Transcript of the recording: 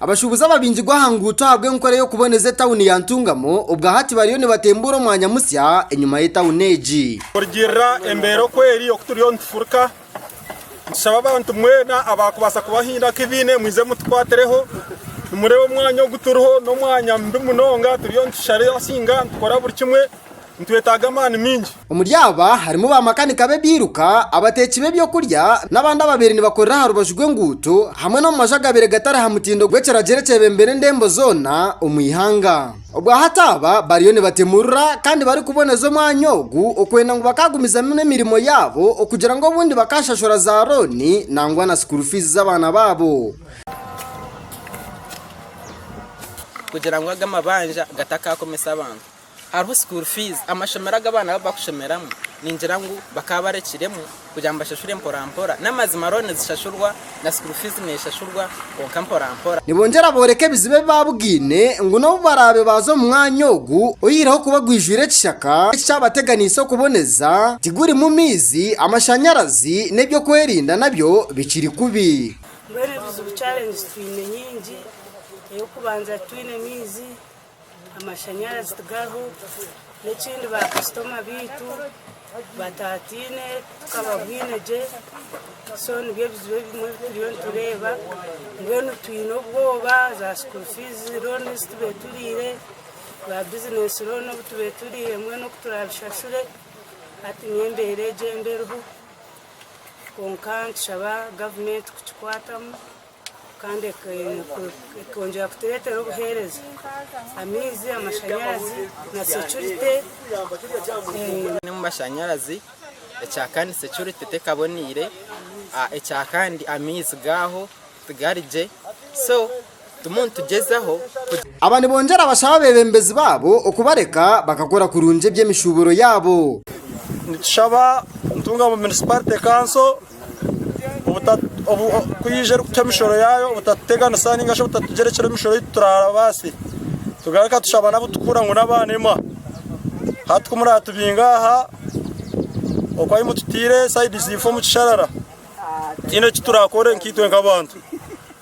Abashuubuzi ababingirwe aha nguuto ahabw'enkora y'okuboneza etauni ya Ntungamo obwahati bariyo nibatembuura omwanya musya enyima y'etauni egi. Kurugiirira embeera oku eri oku turiyo nitufurika, nitushaba abantu mwena abaakubaasa kuba haine aku baine mwije mutukwatireho. Nimureeba omwanya ogu turiho n'omwanya mubi munonga turiyo nitushara ensinga nitukora buri kimwe. Nitwetaaga amaani maingi. Omuri aba harimu baamakanika b'ebiiruka, abateeki b'eby'okurya, n'abandi ababaire nibakorera aha rubaju rw'enguuto hamwe n'omu maju agabaire gatari aha mutindo gw'ekiragiro ekyebembera endembo zoona omu ihanga. Obwahati aba bariyo nibatemurura kandi barikuboneza omwanya ogu okwenda ngu bakaagumizamu n'emirimo yaabo okugira ngu obundi bakaashashura za rooni nangwa na sukuuru fiizi z'abaana baabo. Kugira ngu aga mabanja gatakaakomesa abantu, Hariho school fees, amashomero agu abaana baabaire barikushomeramu ningira ngu bakaba barekiremu kugira ngu bashashure mporampora. N'amazima loan nizishashurwa na school fees neeshashurwa kwonka mporampora. Nibongyera booreka ebizibu ebi baabugaine ngu n'obu baraabe baaza omu mwanya ogu oyihireho kuba gwijwire ekishaka, eki kyabateganiise okuboneza tigurimu maizi, amashanyarazi n'eby'okwerinda nabyo bikiri kubi. Mbwenu ebizibu, challenges, twine nyingi. Ey'okubanza titwine maizi, Amashanyarazi tigariho, n'ekindi baakasitoma baitu batataine tukababwine gye. So nibyo bizibu ebimwe ebi turiyo nitureeba. Mbwenu twine obwoba, za school fees loan ezi tubaire turiire, za business loan obu tubaire turiire mbwenu oku turaabishashure. Hati niyo embeera egyo embi eriho. Kwonka nitushaba gavumenti kukikwatamu. kandi ekongyera kutureetera obuheereza, amaizi, amashanyarazi na securite omu mashanyarazi ekyakandi securite tekaboneire ekyakandi amaizi gaaho tigari gye so tumu nitugyezaho. Aba nibongyera bashaba abeebembezi baabo okubareka bakakora kurungi eby'emishuuburo yaabo. Nitushaba Ntungamo Municipality Council. Kwija erikucwa emishoro yaayo obutatuteganisa nainga shi obutatugyerekyera emishoro ei turabaase tugaruka tushaba n'abu turikuhurira ngu n'abaanema. Hati ku muratubinga aha oku ahu mututaire saidi ziifo omu kisharara tihaine eki turakore nkaitwe nk'abantu.